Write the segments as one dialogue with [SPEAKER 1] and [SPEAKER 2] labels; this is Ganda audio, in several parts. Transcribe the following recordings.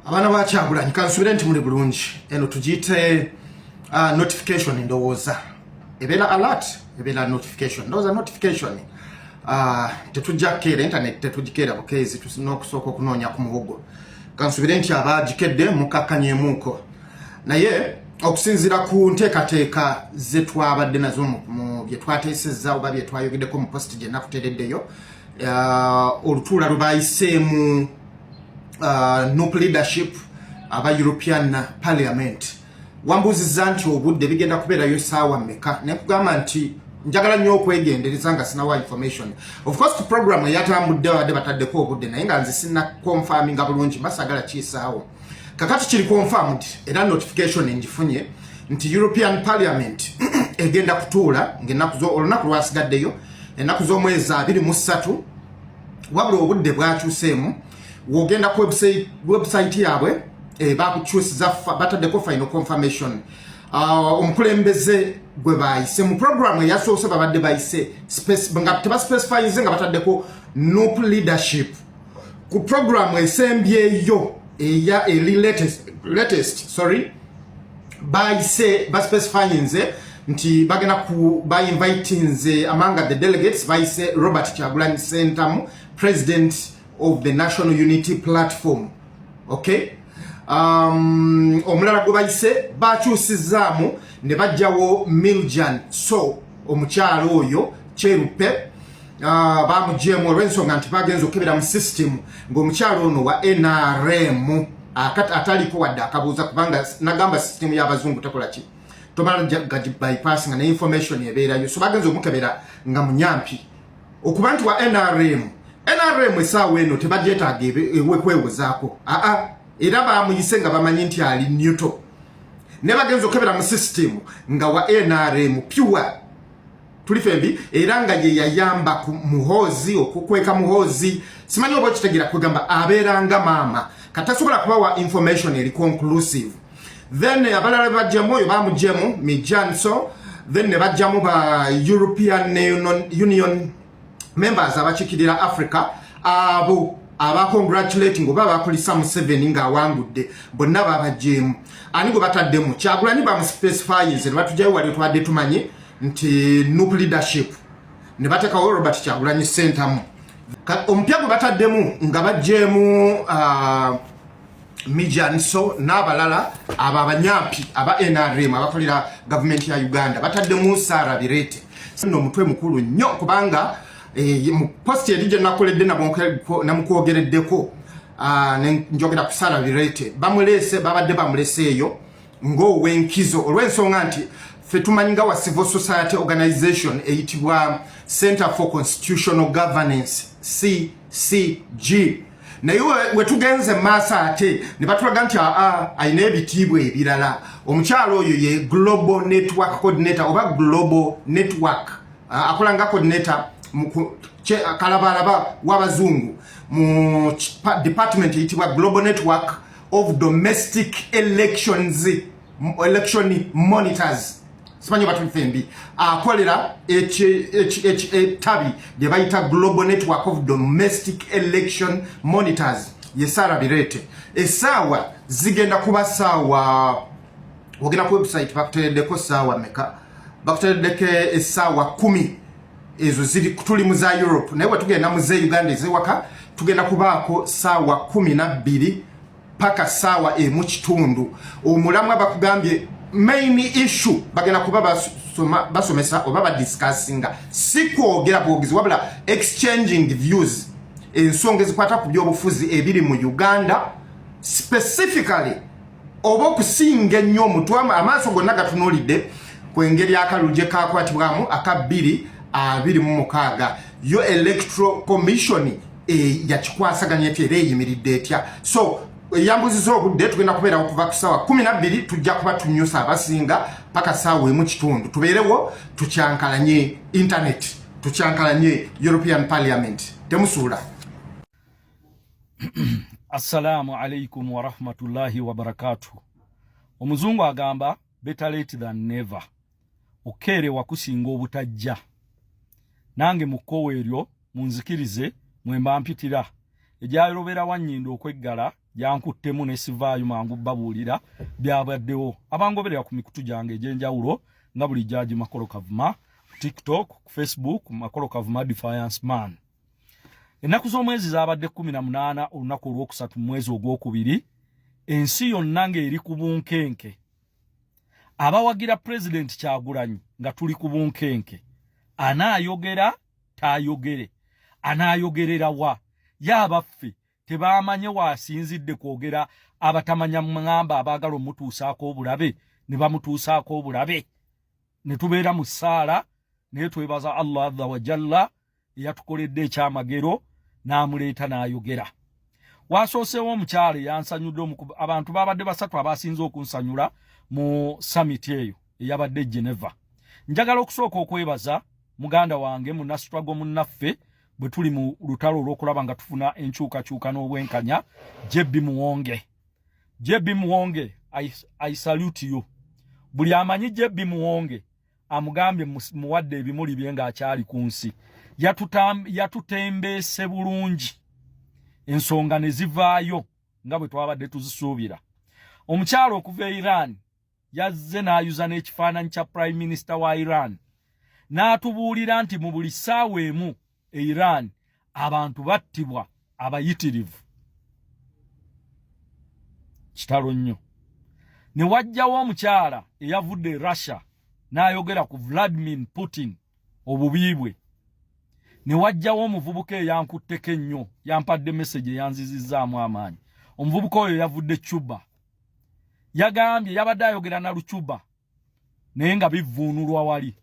[SPEAKER 1] abaana ba kyagulanyi kansubire nti muli bulungi eno tugiyite uh, notification ndowooza ebeera alert ebeera notification ndowooza notification uh, tetujja kukeera internet tetugikeera bukeezi tusina okusooka okunoonya ku muwogo kansubire nti abagikedde mukakkanyemuuko naye okusinzira ku nteekateeka zetwabadde nazo mu byetwateesezza oba byetwayogedeko mu post gyenakutereddeyo uh, olutuula lwe bayiseemu uh, nup leadership aba european parliament wambuuziza nti obudde bigenda kubeerayo esaawa meka nekugamba nti njagala nnyo okwegendereza nga sinawa information of course ku program eyatambudde badde bataddeko obudde naye nga nze sina confirminga bulungi basagala kiisaawo kakati kiri confirmed era notification enjifunye nti European Parliament egenda kutuula ng'ennaku zo olunaku lwasigaddeyo ennaku z'omwezi abiri mu ssatu wabula obudde bwakyuseemu wogenda ku website yaabwe eh, bakukyusiza bataddeko final confirmation uh, omukulembeze gwe bayise mu programu eyasoose babadde bayise nga tebaspecifyinze nga bataddeko nup leadership ku program esembyeyo eya eli latest, latest sorry bayise baspecifying nze nti bagenda ku bainvite nze amanga the delegates bayise robert kyagulanyi sentamu president of the national unity platform okay um, omulala gwe bayise bakyusizaamu ne bajjawo miljan so omukyalo oyo kyerupe Ah, bamugyemu olwensonga nti bagenza okukebera mu system ngaomukyalo ono wa nrm ataliko wadde akabuuza kubanga nagamba system yabazungu tekolaki tomala bypass nga neinformation ebeerayo so bagenza omukebera nga munyampi okuba nti wa nrm nrm esaawa eno tebagyetaaga ewekwewozaako aa era bamuyise nga bamanyi nti ali newto ne bagenza okukebera mu system nga wa nrm pure tuli fembi era nga ye yayamba ku muhoozi okukweka muhoozi simanyi oba okitegera kwegamba abeera nga maama katasobola kubawa information eri conclusive then abalala bajjamu oyo bamujjemu mijanso then ne bajjamu ba european union members abakikirira africa abo aba congratulating oba bakulisa museveni ng'awangudde bonna babajjeemu ani gwe bataddemu kyagulanyi bamuspecifyinze ne batujayo wali twadde tumanye nti nup leadership ne batekawo robert kyagulanyi sentamu omupya gwe bataddemu nga bajjeemu uh, mijanso n'abalala abo abanyampi aba nrm abakolera gavumenti ya uganda bataddemu sara birete no omutwe mukulu nnyo kubanga eh, mu posti eri gyenakoledde namukwogereddeko ah, njogera ku sara birete bamuleese babadde bamuleseeyo ng'owenkizo olw'ensonga nti fe tumanyi nga wa civil society organization eyitibwa center for constitutional governance ccg naye wetugenze maaso ate ne batulaga nti aa alina ebitiibwa ebirala omukyalo oyo ye global network coordinator oba global network akola nga coordinator kalabalaba w'abazungu mu department eyitibwa global network of domestic elections election monitors simanyi batufembi akolera ettabi lye bayita global network of domestic election monitors ye sara birete esaawa zigenda kuba saawa ogenda ku website bakuteredeko saawa meka bakuteredeko esaawa kumi ezo ziri tuli mu za Europe naye wetugenda mu ze Uganda ezewaka tugenda kubaako saawa kumi na bbiri paka saawa emu kitundu omulamwa bakugambye main issue bagenda kuba basoma, basomesa oba badiscussinga si kwogera bwogezi wabula exchanging views ensonga ezikwata ku byobufuzi ebiri mu Uganda specifically oba okusinga ennyo omutwe amaaso gonna gatunulidde ku engeri akalulu gye kakwatibwamu aka bbiri abiri mu mukaaga yo electoral commission e, yakikwasaganya etya era eyimiridde etya so eyambuziza obudde tugenda kubeera okuva ku saawa kumi nabbiri tujja kuba tunyusa abasinga paka saawa emu kitundu tubeerewo tukyankalanye intaneti tukyankalanye european parliament temusuula
[SPEAKER 2] Assalamu alaikum warahmatullahi wabarakatuh. Omuzungu agamba better late than never. Okeere wakusinga obutajja. Nange mukkowa eryo munzikirize mwemba mpitira. Egyayolobera wanyinda okweggala gyankuttemu ne sivaayo mangu babuulira byabaddewo. Abangoberera ku mikutu gyange egy'enjawulo nga buli jaaji Makolo Kavuma, TikTok, Facebook, Makolo Kavuma Defiance Man. ennaku z'omwezi zaabadde kumi na munaana olunaku olwokusatu mu mwezi ogwokubiri ensi yonna ng'eri ku bunkenke abawagira pulezidenti kyagulanyi nga tuli ku bunkenke anaayogera taayogere anaayogerera wa ye abaffe tebaamanye waasinzidde kwogera abatamanya mungamba abaagala omutuusaako obulabe ne bamutuusaako obulabe ne tubeera mu ssaala naye twebaza allah adha wajalla eyatukoledde ekyamagero n'amuleeta n'ayogera waasooseewo omukyala eyansanyudde abantu baabadde basatu abaasinze okunsanyula mu samiti eyo eyabadde geneva njagala okusooka okwebaza muganda wange munasitwago munnaffe bwe tuli mu lutalo olw'okulaba nga tufuna enkyukakyuka n'obwenkanya jb muwonge jb muwonge I, i salute you buli amanyi jb muwonge amugambye muwadde ebimuli bye ng'akyali ku nsi yatutembeese bulungi ensonga ne zivaayo nga bwe twabadde tuzisuubira omukyalo okuva e iran yazze n'ayuza n'ekifaananyi kya prime minister wa iran n'atubuulira nti mu buli ssaawa emu e Iran abantu battibwa abayitirivu kitalo nnyo ne wajjawo omukyala eyavudde e Russia n'ayogera ku Vladimir Putin obubi bwe ne wajjawo omuvubuka eyankutteko ennyo yampadde meseji eyanzizizzaamu amaanyi omuvubuka oyo yavudde Cuba yagambye yabadde ayogera na Lucuba naye nga bivvuunulwa wali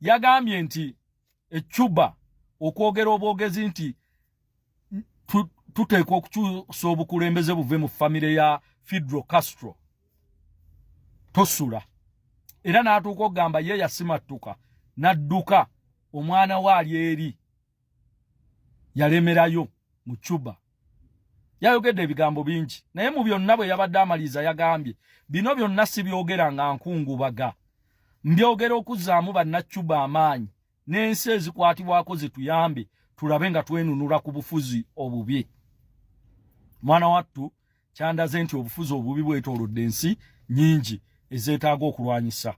[SPEAKER 2] yagambye nti e Cuba okwogera obwogezi nti tuteekwa okukyusa obukulembeze buve mu famire ya Fidel Castro tosula era n'atuuka okugamba ye yasimattuka n'adduka omwana we ali eri yalemerayo mu Cuba yayogedde ebigambo bingi naye mu byonna bwe yabadde amaliriza yagambye bino byonna si byogera nga nkungubaga mbyogera okuzzaamu bannacuba amaanyi n'ensi ezikwatibwako zituyambe tulabe nga twenunula ku bufuzi obubi mwana wattu kyandaze nti obufuzi obubi bwetoolodde ensi nyingi ezeetaaga okulwanyisa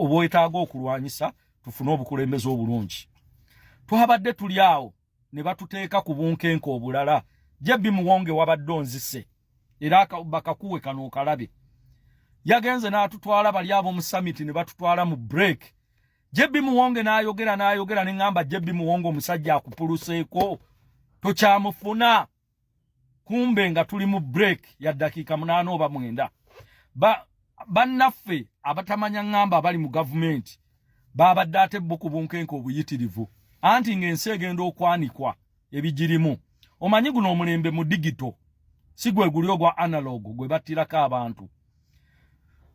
[SPEAKER 2] obwetaaga okulwanyisa tufune obukulembeze obulungi twabadde tuli awo ne batuteeka ku bunkenke obulala jebbi muwonge wabadde onzise era bakakuwe kano okalabe yagenze n'atutwala bali ab'omu samiti ne batutwala mu break jebbi muwonge n'ayogera n'ayogera ne ŋŋamba jebbi muwonge omusajja akupuluseeko tokyamufuna kumbe nga tuli mu break ya dakiika munaana oba mwenda bannaffe ba abatamanya ŋŋamba abali mu gavumenti baabadde ate bo ku bunkenke obuyitirivu anti ng'ensi egenda okwanikwa ebigirimu omanyi guno omulembe mu digito si gwe guli ogwa analogo gwe battirako abantu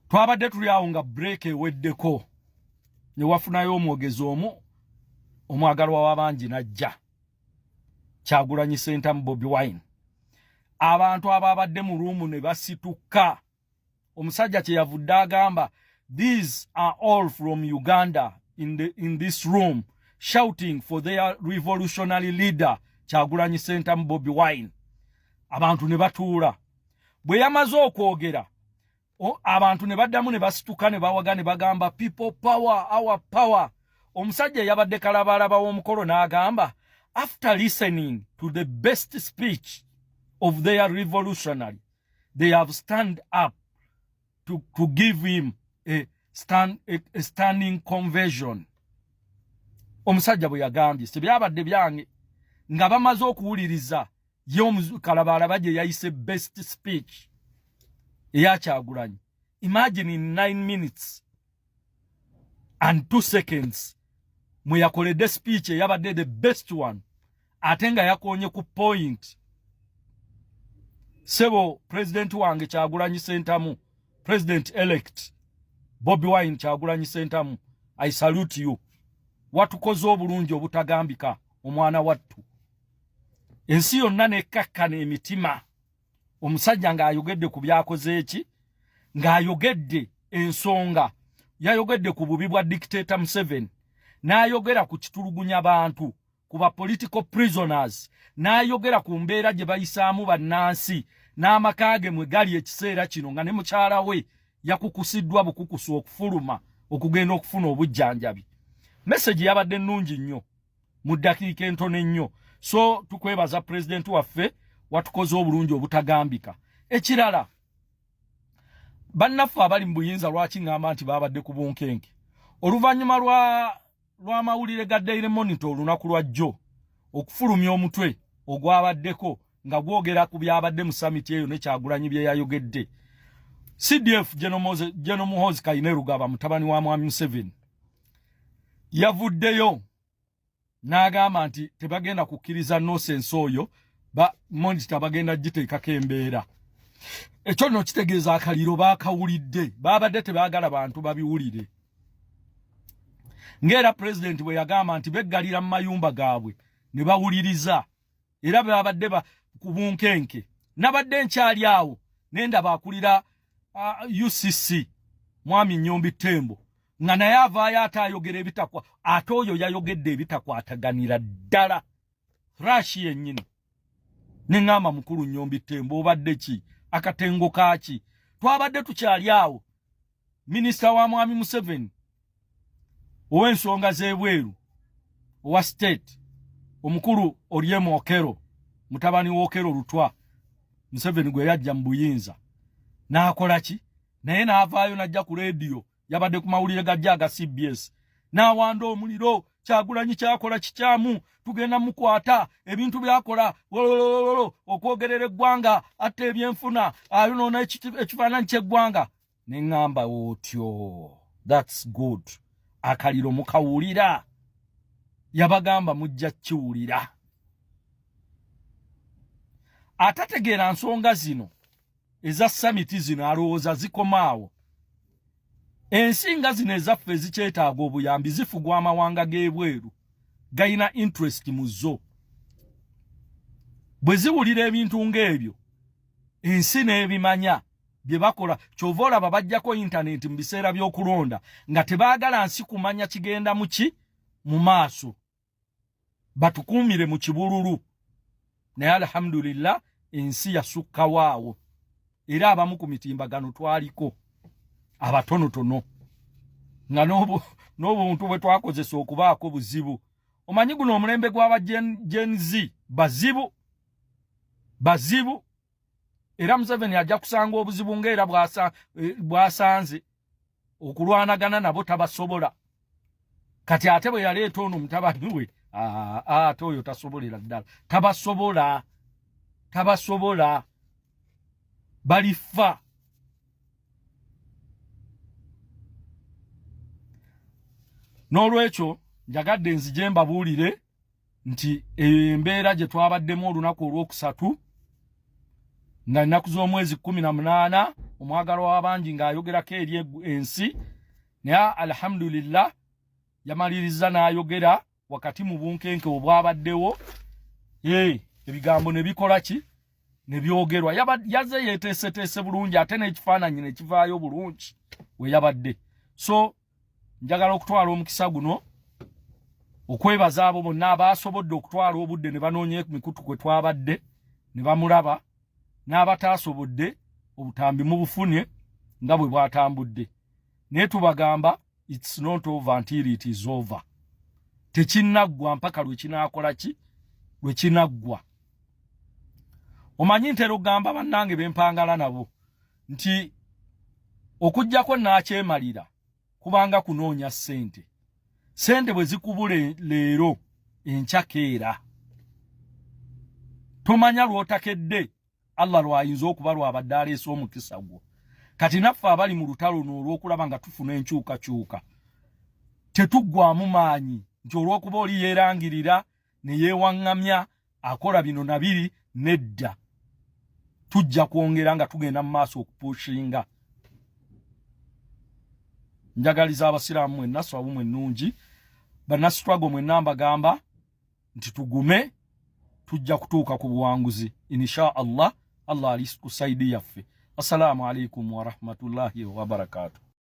[SPEAKER 2] twabadde tuli awo nga break eweddeko ne wafunayo omwogezi omu omwagalwa w'abangi n'ajja kyagulanyi sentamu bobi wine abantu abo abadde mu ruumu ne basituka omusajja kyeyavudde agamba these are all from uganda in, the, in this room shouting for their revolutionary leader kyagulanyi sentamu bobi wine abantu ne batuula bwe yamaze okwogera abantu ne baddamu ne basituka ne bawaga ne bagamba people power our power omusajja yabadde kalabaalaba w'omukolo n'agamba after listening to the best speech of their revolutionary they have stand up to, to give him a, stand, a, a standing conversion omusajja bwe yagambye sibyabadde byange nga bamaze okuwuliriza ye omukalabalaba gye yayise best speech eya kyagulanyi imagine in nine minutes and two seconds mwe yakoledde speech eyabadde the best one ate nga yakonye ku point sebo president wange kyagulanyi sentamu president elect bobi wine kyagulanyi sentamu i salute you watukoze obulungi obutagambika omwana wattu ensi yonna nekkakkana emitima omusajja ng'ayogedde ku byakoze eki ng'ayogedde ensonga yayogedde ku bubi bwa dictator museven n'ayogera ku kitulugunya bantu ku ba political prisoners n'ayogera ku mbeera gye bayisaamu bannansi n'amaka ge mwe gali ekiseera kino nga ne mukyala we yakukusiddwa bukukusu okufuluma okugenda okufuna obujjanjabi mesegi yabadde nnungi nnyo mu ddakiika entono ennyo so tukwebaza pulezidenti waffe watukoze obulungi obutagambika ekirala bannaffe abali mu buyinza lwaki ŋŋamba nti baabadde ku bunkenke oluvannyuma lwa lw'amawulire ga daily monitor olunaku lwa jjo okufulumya omutwe ogwabaddeko nga gwogera ku byabadde mu summit eyo ne kyagulanyi bye yayogedde CDF General Muhoozi Kainerugaba mutabani wa Mwami Museveni yavuddeyo n'agamba nti tebagenda kukkiriza nosense oyo ba monita bagenda giteekako embeera ekyo nno kitegeeza akaliro baakawulidde baabadde tebaagala bantu babiwulire ng'era pulezidenti bwe yagamba nti beggalira mu mayumba gaabwe ne bawuliriza era babadde ku bunkenke nabadde nkyali awo nendaba akulira uh, ucc mwami nyombi tembo nga naye avaayo ate ayogera ebitakwa ate oyo yayogedde ebitakwataganira ddala rashi yennyini neŋŋamba mukulu nyombi tembo obadde ki akatengo kaki twabadde tukyali awo minisita wa mwami museveni ow'ensonga z'ebweru owa state omukulu oryemu okero mutabani w'okero lutwa museveni gwe yajja mu buyinza n'akola ki naye n'avaayo n'ajja ku leediyo yabadde ku mawulire gajja aga cbs n'awanda omuliro kyagulanyi kyakola kikyamu tugenda mukwata ebintu byakola wololololo okwogerera eggwanga atta ebyenfuna ayonoona ekifaananyi ky'eggwanga ne ŋŋamba otyo thats good akaliro mukawulira yabagamba mujja kiwulira atategeera nsonga zino eza samiti zino alowooza zikomaawo ensi nga zino ezaffe ezikyetaaga obuyambi zifugwa amawanga g'ebweru galina interest mu zo bwe ziwulira ebintu ng'ebyo ensi n'ebimanya bye bakola kyova olaba bajjako intaneti mu biseera by'okulonda nga tebaagala nsi kumanya kigenda mu ki mu maaso batukuumire mu kibululu naye alhamdulillah ensi yasukkawo awo era abamu ku mitimbagano twaliko abatonotono nga n'obuntu bwe twakozesa okubaako buzibu omanyi guno omulembe gw'aba gen z bazibu bazibu era museveni ajja kusanga obuzibu ngaera eh, bwasanze okulwanagana nabo tabasobola kati ate bwe yaleeta ono mutabani we ate oyo tasobolera ddala tabasobola tabasobola balifa n'olwekyo njagadde nzije mbabuulire nti eyo embeera gye twabaddemu olunaku olwokusatu nga nnaku z'omwezi kumi na munaana omwagalo w'abangi ng'ayogerako eri ensi naye alhamdulillah yamaliriza n'ayogera wakati mu bunkenke obwabaddewo ee ebigambo ne bikola ki ne byogerwa yaze yeeteeseteese bulungi ate n'ekifaananyi ne kivaayo bulungi we yabadde so njagala okutwala omukisa guno okwebaza abo bonna abaasobodde okutwala obudde ne banoonya mikutu kwe twabadde ne bamulaba n'abataasobodde obutambi mu bufunye nga bwe bwatambudde naye tubagamba its not over until it is over tekinaggwa mpaka lwe kinaakola ki lwe kinaggwa omanyi ntera okugamba bannange be mpangala nabo nti okujjako naakyemalira kubanga kunoonya ssente ssente bwe zikubula leero enkyakeera tomanya lw'otakedde allah lwayinza okuba lwabadde aleese omukisa gwo kati naffe abali mu lutalo n'olw'okulaba nga tufuna enkyukakyuka tetuggwamu maanyi nti olw'okuba oli yeerangirira ne yeewaŋŋamya akola bino na biri nedda tujja kwongera nga tugenda mu maaso okupuushinga njagaliza abasiraamu mwenna swabu mwe nnungi banasitwago mwenna mbagamba nti tugume tujja kutuuka ku buwanguzi insha allah allah ali ku saidi yaffe assalamu alaikum warahmatullahi wabarakatuh